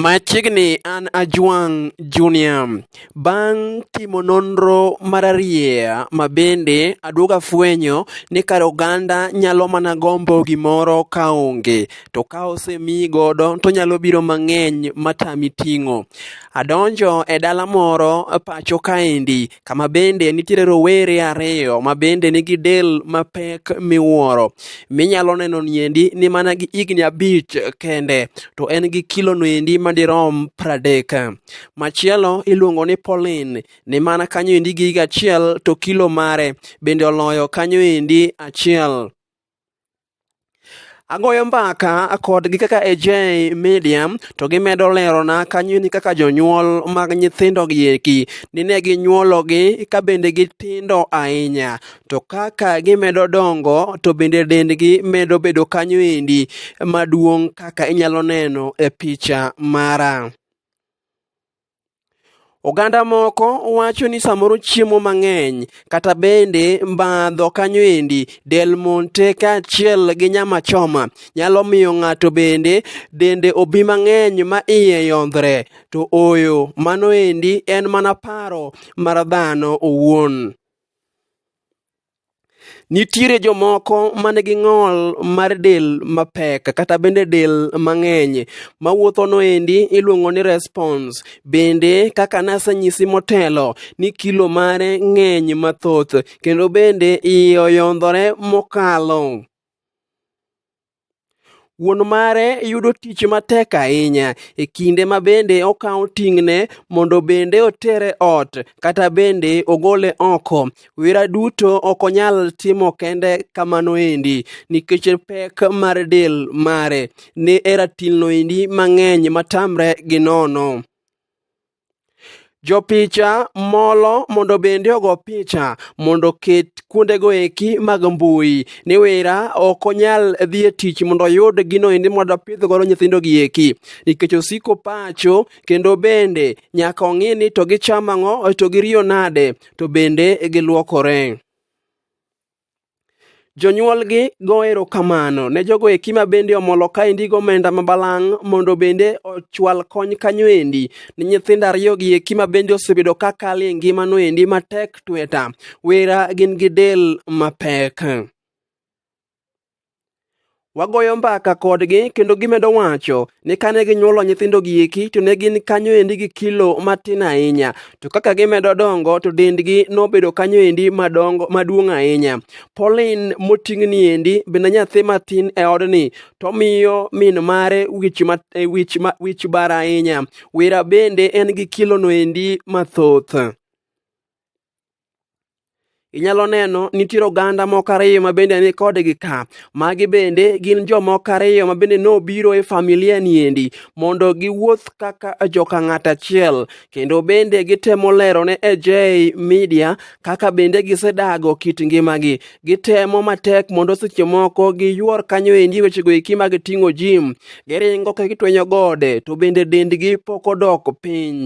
Machiegni an Ajwang' Junior. Bang' timo nonro mararieya ma bende aduogo afwenyo ni kar oganda nyalo mana gombo gimoro ka onge to ka osemiyi godo to nyalo biro mang'eny matami ting'o. Adonjo e dala moro pacho kaendi kama bende nitiere rowere ariyo ma bende nigi del mapek miwuoro minyalo neno niendi ni mana gi higni abich kende to en gi kilo noendi madirom pradek machielo iluongo ni Pauline ni mana kanyo endi gi higa achiel to kilo mare bende oloyo kanyo endi achiel Agoyo mbaka kodgi kaka AJ Media to gimedo lerona kanyo ni kaka jonyuol mag nyithindo gi eki nine ginyuologi ka bende gitindo ahinya to kaka gimedo dongo to bende dendgi medo bedo kanyo endi maduong' kaka inyalo neno e picha mara. Oganda moko wacho ni samoro chiemo mang'eny kata bende mbadho kanyo endi del monte kaachiel gi nyama choma nyalo miyo ng'ato bende dende obi mang'eny ma iye yondhre to oyo mano endi en mana paro mar dhano owuon. Nitiere jomoko ma nigi ng'ol mar del mapek kata bende del mang'eny ma wuothono endi iluongo ni response. Bende kaka nasenyisi motelo ni kilo mare ng'eny mathoth kendo bende iye oyondhore mokalo. Wuon mare yudo tich matek ahinya e kinde ma bende okawo ting'ne mondo bende otere ot kata bende ogole oko. Wira duto ok onyal timo kende kamano endi nikech pek mar del mare ne eratilno endi mang'eny matamre gi nono. Jopicha molo mondo bende ogo picha mondo oket kuondego eki mag mbui. Ni wera ok onyal dhi e tich mondo oyud gino endi mondo opidh godo nyithindo gi eki nikech osiko pacho kendo bende nyaka ong'i ni to gichamo ang'o to giriyo nade to bende giluokore. Jonyuolgi go erokamano ne jogo eki ma bende omolo kaendi gomenda ma balang' mondo bende ochwal kony kanyo endi ni nyithindo ariyogi eki ma bende osebedo ka kalo e ngimano endi matek tweta wera gin gi del mapek. wagoyo mbaka kodgi kendo gimedo wacho ni kane ginyuolo nyithindo gieki to ne gin kanyo endi gi kilo matin ahinya to kaka gimedo dongo to dendgi nobedo kanyo endi madongo maduong' ahinya Pauline moting'ni endi bende nyathi matin e odni to miyo min mare wich, ma, e, wich, ma, wich bar ahinya wira bende en gi kilono endi mathoth inyalo neno nitiere oganda moko ariyo ma bende ni kodgi ka magi bende gin jomoko ariyo ma bende nobiro e familia niendi mondo giwuoth kaka joka ng'ato achiel kendo bende gitemo lero ne AJ Media kaka bende gisedago kit ngimagi gitemo matek mondo seche moko giyuor kanyo endi wechego eki mag ting'o jim giringo ka gitwenyo gode to bende dendgi pok odok piny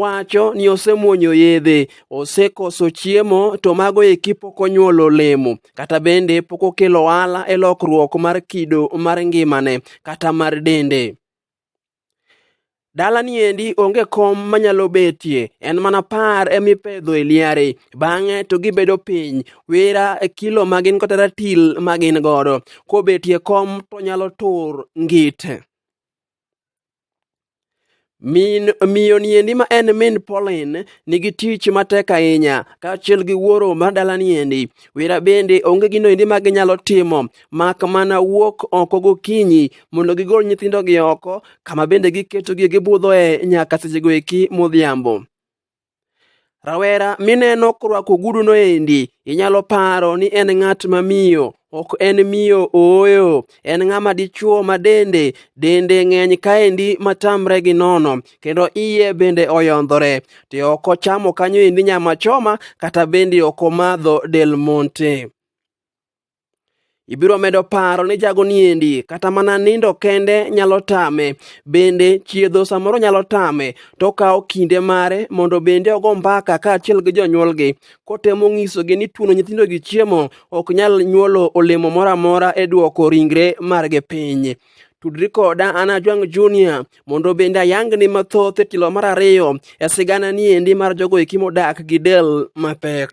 wacho ni osemwonyo yedhe osekoso chiemo to mago eki pok onyuolo olemo kata bende pok okelo ohala e lokruok mar kido mar ngimane kata mar dende dalani endi onge kom manyalo betie en mana par emipedho e liare bang'e to gibedo piny wera e kilo magin kata ratil magin godo kobetie kom to nyalo tur ngite Min miyo niendi ma en min Pauline nigi tich matek ahinya kaachiel gi wuoro mar dala niendi. Wira bende onge gino endi ma ginyalo timo mak mana wuok oko gokinyi mondo gigol nyithindogi oko kama bende giketogi gibudhoe nyaka sechego eki modhiambo. Rawera mineno korwako oguduno endi, inyalo paro ni en ng'at ma miyo. Ok en miyo ooyo, en ng'ama dichwo ma dende dende ng'eny kaendi matamre gi nono, kendo iye bende oyondhore. To ok ochamo kanyo endi nyama choma, kata bende ok omadho Del Monte. Ibiro medo paro ni jago niendi kata mana nindo kende nyalo tame, bende chiedho samoro nyalo tame, to okawo kinde mare mondo bende ogo mbaka kaachiel gi jonyuolgi kotemo nyisogi ni tuono nyithindo gi chiemo ok nyal nyuolo olemo moro amora e duoko ringre margi piny. Tudri koda an Ajwang' Junior mondo bende ayangni mathoth e tielo mar ariyo e sigana niendi mar jogo eki modak gi del mapek.